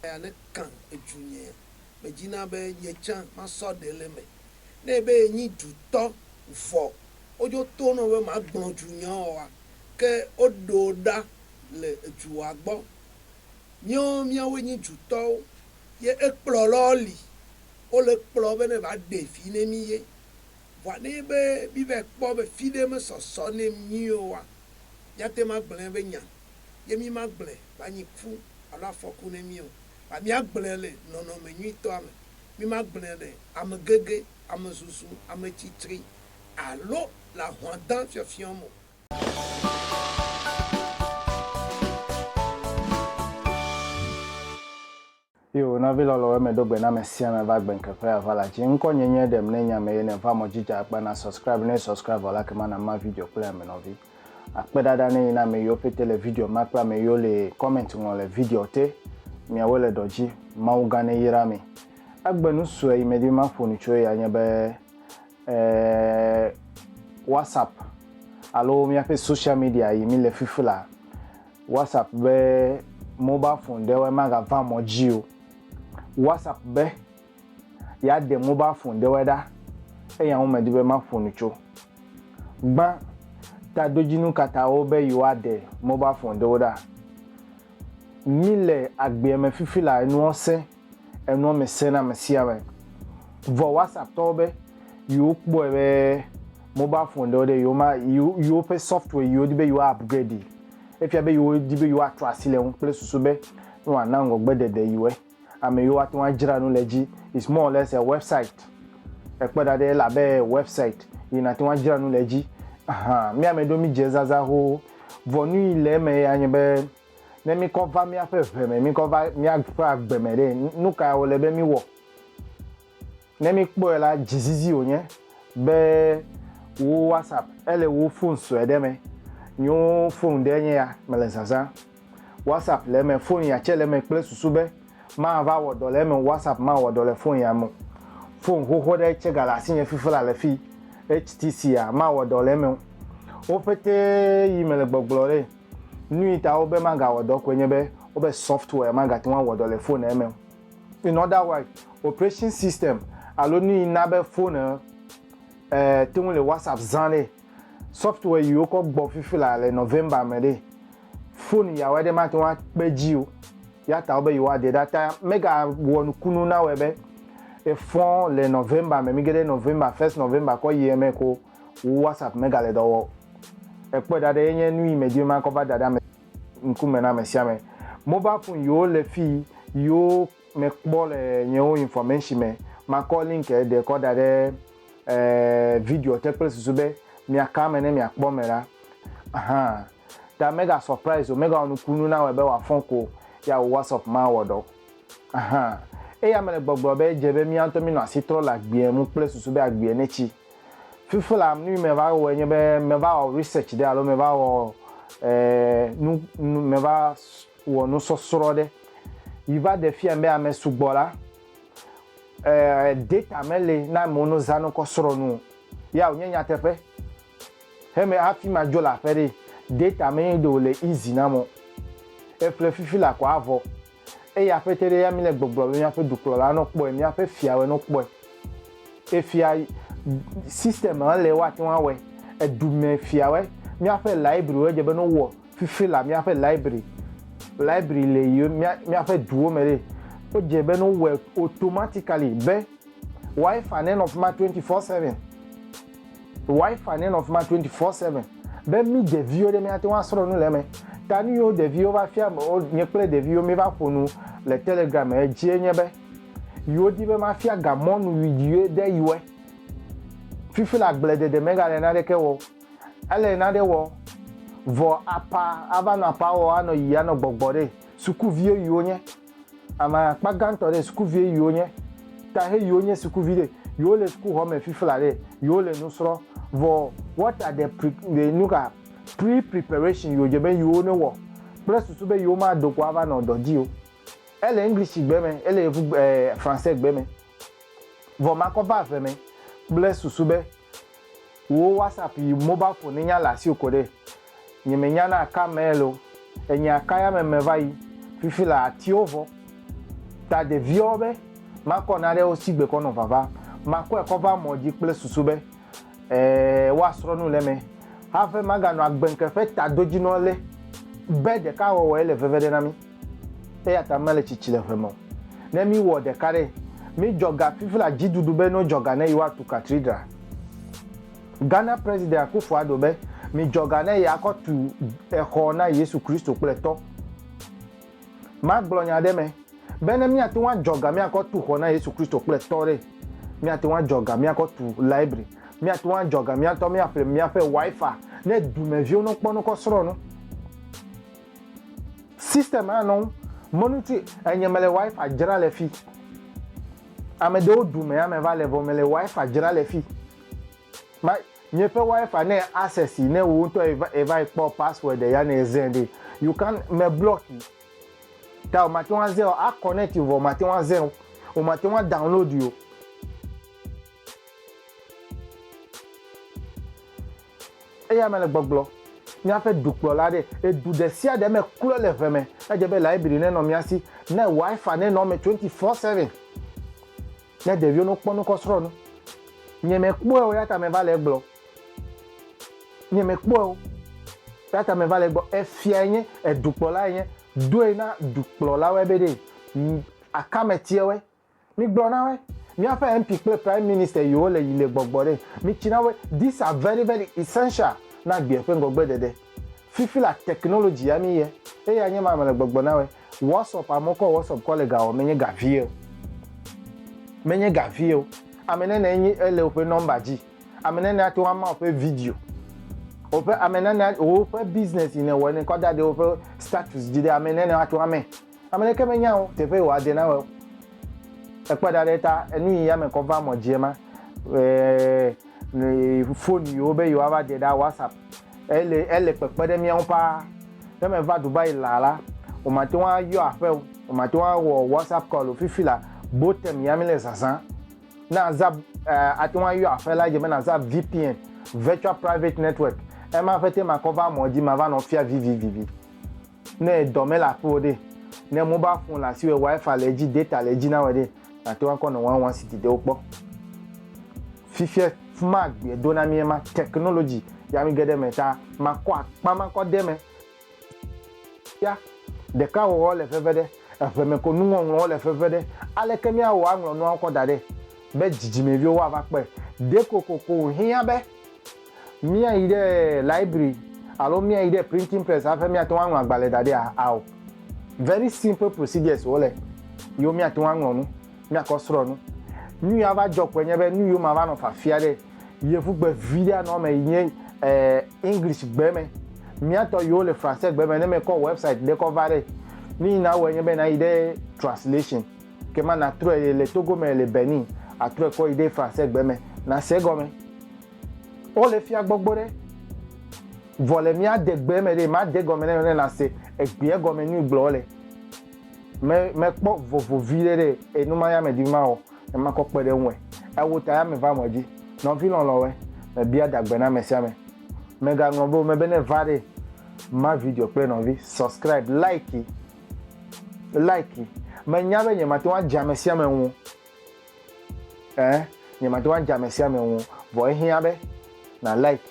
Aya ne kã edzu nye me dzi na be nye tsã ma sɔ ɖe le me. Ne ebe ye nyi dzu tɔ vɔ wo dzo to nɔ be ma gblɔ dzu nya ɔ wa ke wo ɖo ɖa le edzu wa gbɔ. Nye wo mía woe nyi dzu tɔ wo ye ekplɔ lɔ li wo le kplɔ be ne va ɖe vi ne mi ye. Vɔa ne ebe mi va yi kpɔ be fiɖe me sɔsɔ ne mi nyui o wa míate ŋu agblẽ eƒe nya, ye mí magblẽ wòanyi ku alo afɔku na mí o, vɔa míagblẽ le nɔnɔme nyuitɔa me. Mí magblẽ le amegege, amezuzu, ametsitri alo le ahlɔ̃dã fiɔfiɔ me o. Io, nɔvi lɔlɔ wɛ me ɖo gbe na me sia me va gbe ŋke ƒe ava la dzi. Ŋkɔ nye nye ɖem ne nya me ye ne va mɔ dzi dza akpa na subscribe ne subscribe vɔ la kema na ma video kple ame nɔvi. Akpe ɖaɖa ne yi na ame yiwo pete le video ma kple ame yiwo le comment ŋlɔ le video te. Miawo le ɖɔ dzi. Mawu gã ne yra mi. Egbe nu sue yi me di be ma ƒonu tso ya nye be eh, WhatsApp alo miaƒe social media yi mi le fifi la WhatsApp be mobile phone ɖewoe magava mɔ dzi o. WhatsApp be yeade mobile phone ɖewoe ɖa eya ŋu medi be maƒo nu tso. Gbã tadodzinu ka ta wo be yewoaɖe mobile phone ɖewo ɖa. Míle agbeame fifi la enuwo sẽ. Enua me sẽ na ame sia ame. Vɔ WhatsApp tɔwo be yewo kpɔe be mobile phone ɖewo ɖe yewo ma yewo ƒe software yewo di be yewo upgrade yi. Efia be yewo di be yewo atrɔ asi le eŋu kple susu be ne woa na ŋgɔgbe ɖeɖe yewo. Ame yewo ate ŋu adzra nu le edzi. It's more or less a website. Ekpe ɖa ɖe ele abe website yi nate ŋu adzra nu le edzi. Ahan, mía ame ɖewo mi dze ezazã xoxo. Vɔ nuyi le eme ya nye be Ne míkɔ va míaƒe ʋe me, míkɔ va míaƒe agbe me ɖe, nu kae wòle be míwɔ? Ne míkpɔe la, dzizizi wònye be wò WhatsApp ele wò fon sue ɖe me. Nyo fon ɖe nye ya, mele zazã. WhatsApp le eme, fon ya tse le eme kple susu be mava wɔ dɔ le eme o, WhatsApp mawɔ dɔ le fon ya me o. Fon xoxo ɖe tse gale asinye fifi la le fi, HTC ya, mawɔ dɔ le eme o. Wo ƒete yi mele gbɔgblɔ ɖe. Nui ta wobe magawɔ dɔ koe nye be wobe software magate ŋu awɔ dɔ le phone eme o. In other wise, operation system alo nuyi na be phone e te ŋu le WhatsApp zã ɖe, software yi wokɔ gbɔ fifi la le November me ɖe, phone yawo aɖe mate ŋu akpe edzi o. Ya ta wobe yewoa de ɖa. Ta mega wɔ nukunu nawɔe be efɔ le November me. Mi ge ɖe November, first November kɔ yi eme ko. wu WhatsApp megale dɔ wɔ o. Ekpɔe ɖa ɖe enye nu yi me dim makɔ va da ɖe ame ŋkume na ame sia ame. Mobile phone yiwo le fi yiwo me kpɔ le nyewo information me makɔ link ɖe kɔ da ɖe video te kple susu be mia ka eme ne mia kpɔ me ɖa. Hã ta mega surprise o, mega wɔ nukunu na wɔe be wa fɔn ko ya wu WhatsApp ma wɔ dɔ. Hã eya me le gbɔgblɔ be edze be mia ŋutɔ mi nɔ asi trɔ le agbeɛ ŋu kple susu be agbeɛ ne tsi. Fifi la nu yi me va wɔe nye be me va wɔ research ɖe alo me va wɔ nu nu me va wɔ nusɔsrɔ̃ ɖe yi va ɖe fia be ame sugbɔ la data me li na amewo no za nokɔ srɔ̃ nu o. Ya wonye nyateƒe. He me hafi ma dzo le aƒe ɖe data me yi ɖe wole easy na amewo. Eƒle fifi la kɔ avɔ. Eye akpɛtɛ ɖe ya mí le gbɔgblɔ be míaƒe dukplɔla nɔ kpɔe, míaƒe fiawɔe nɔ kpɔe. Efia system ma le woate ŋu awɔe. Edumɛ fiawɔe. Míaƒe library wo edze be no wɔ fifi la míaƒe library. Library le yi míaƒe duwo me ɖe. Wo dze be no wɔ automatically be wifi ne nɔ fima twenty four seven. Wi-Fi nenɔ fi ma twenty four seven be mí ɖeviwo ɖe míate ŋu asrɔ̃ nu le eme. Ta nu yiwo ɖeviwo va fia wo nye kple ɖeviwo míva ƒo nu le Telegram me dzie nye be yewo di be mafia ga mɔnu viɖiwoe ɖe yewoe. Fifi la agble ɖeɖe megale naɖeke wɔ o. Ele naɖe wɔ vɔ apa ava nɔ apa wɔ anɔ yiyi anɔ gbɔgbɔ ɖe sukuviwo yiwo nye. Ame akpa gãtɔ ɖe sukuvie yiwo nye ta he yiwo nye sukuvi ɖe yiwo le sukuxɔ me fifla ɖe yiwo le nu srɔ vɔ what are the pre the nuka pre preparation yiwo dze be yiwo ne wɔ kple susu be yiwo ma do ko ava nɔ dɔ dzi o ele english gbe me ele evu eh français gbe me Vɔ makɔ va ave mɛ kple susu be wò WhatsApp yi mobile phone nya le asiwò koɖe. Nye me nyana aka mail o. Enye aka ya me me va yi. Fifi la atiwo vɔ. Ta ɖeviawo be makɔ naɖe wo si gbekɔ nɔ vava. Makɔe kɔ va mɔ dzi kple susu be ee woasrɔ nu le eme. Hafe maganɔ agbenke ƒe tadodzinɔ le be ɖeka wɔwɔe le veve ɖe na mi. Eya ta mele tsitsi le ʋe me o. Ne míwɔ ɖeka ɖe, mídzɔ ga fifi le adziɖuɖu be nodzɔ ga ne yewoatu katridra. Ghana President Akuffo Addo be, Midzɔ ga ne yeakɔ tu exɔ na Yesu Kristo kple tɔ. Magblɔ nya ɖe eme be ne míate ŋu adzɔ ga míakɔ tu xɔ na Yesu Kristo kple tɔ ɖe, míate ŋu adzɔ ga míakɔ tu library, míate ŋu adzɔ ga míatɔ míaƒle míaƒe Wi-Fi ne dumeviwo nokpɔ nokɔ srɔ̃ nu. System hã nɔ mɔnu ci enye mele wifi dzra le fi. Ame ɖewo du me ame va le vɔ mele wifi dzra le fi. Ma mieƒe wifi ne access ne wo ŋutɔ eva ekpɔ password ya ne ezɛ ɖe you can me block yi. Ta o mate ŋu azɛ o a connect vɔ mate ŋu azɛ o. O mate ŋu download yi o. Eya mele gbɔgblɔ. Míaƒe dukplɔla aɖe, edu ɖe sia ɖe me klɔ le ʋe me. Edze be laibri nenɔ mía si, ne Wi-Fi nenɔ eme twenty four seven, ne ɖeviwo ne wokpɔ nu kɔ srɔ̃ nu. Nye mekpɔe o, eya ta meva le egblɔ. Nye mekpɔe o, eya ta meva le egblɔ. Efia enye, edukplɔla enye. Doe na dukplɔlawoe be ɖe akametiawoe Migblɔ na wo, miaƒe MP kple Prime Minister yiwo le yi le gbɔgbɔ ɖe. Mitsi na wo, these are very very essential na agbeɛ ƒe ŋgɔgbe ɖeɖe. Fifi la technology ya mi ye, eya nye ma mele gbɔgbɔ na woe. WhatsApp, amewo kɔ WhatsApp kɔ le ga wɔm menye ga vie o. Menye ga vie o. Ame nɛnɛ enyi ele woƒe number dzi. Ame nɛnɛ ate ŋu ama woƒe video. Woƒe ame nɛnɛ woƒe business yi ne wɔe ne kɔ da ɖe woƒe status dzi ɖe ame nɛnɛ ate ŋu amɛ. Ame ɖeke menya ŋ teƒe yi wòade na wɛ o. Ekpɔɛ ɖa ɖe ta enu yi yame kɔ va mɔ dji ema. Eeee phone yi wo be yi wa va de ɖa WhatsApp ele ele kpekpe ɖe mía ŋu paa. Ne me va Dubai laa la, wo ma te ŋu a yɔ aƒe o, wo ma te ŋu a wɔ WhatsApp call o. Fifi la, Botem ya mi le zazã. Ne a za eeee a te ŋu a yɔ aƒe la edze be na za VPN, Virtual Private Network, ema ƒete ma kɔ va mɔ dji ma va nɔ fia vivivivi. Ne dɔ mele aƒewò ɖe, ne mobile phone le asiwò, wifi le edzi, data le edzi na wò ɖe, nàte ŋu akɔ nɔ one one city ɖewo kpɔ. Fifia fi ma agbea do na mí ema, technology ya mí ge ɖe eme ta makɔ akpa makɔ de eme. Ya ɖekawɔwɔ le veve ɖe, eŋe me ko nuŋɔŋlɔwo le veve ɖe. Aleke míawɔ aŋlɔ nuawo kɔ da ɖɛ be dzidzimeviwo woava kpɔe? Ɖe kokoko wòhiã be. Míayi ɖe library alo míayi ɖe printing press hafi míate ŋu aŋlɔ agbalẽ da ɖia? Ao. Very simple procedures wole yiwo míate ŋu aŋlɔ nu, míakɔ srɔ̃ nu. Nu yi ava dzɔ kpɔe nye be nu yiwo mava nɔ fafia ɖe yevugbe viɖe anɔ eme yi nye English gbe me. Mía tɔ yiwo le Français gbe me ne mekɔ website ɖe kɔ va ɖe, nu yi nawɔe nye be nayi ɖe translation ke ma natrɔe le Togo me le Benin atrɔe kɔ yi ɖe Français gbe me nase egɔme. Wo le fia gbɔgbɔ ɖe. Vɔ le mía de gbe me ɖe, ma de gɔme ne ne na se egbea gɔme nui gblɔ le. Me me kpɔ vovo vi ɖe ɖe enu ma ya me di ma wɔ, ne ma kɔ kpe ɖe ŋue. Ewo ta ya me va mɔ dzi. Nɔvi lɔlɔ wɛ, me bia da gbe na ame sia ame. Me ga ŋlɔ be me be ne va ɖe ma video kple nɔvi, subscribe, like yi, like yi. Me nya be nye ma te ŋu adze ame sia ame ŋu. Ẽ, nye mate ŋu adze ame sia ame ŋu o, vɔ ehiã be na like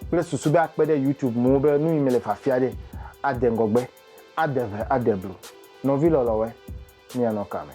kple susu be akpe ɖe YouTube ŋu be nu yi mele fafia ɖe ade ŋgɔgbe, ade ʋe, ade blu. Nɔvi lɔlɔ̃woe, mianɔ ka me?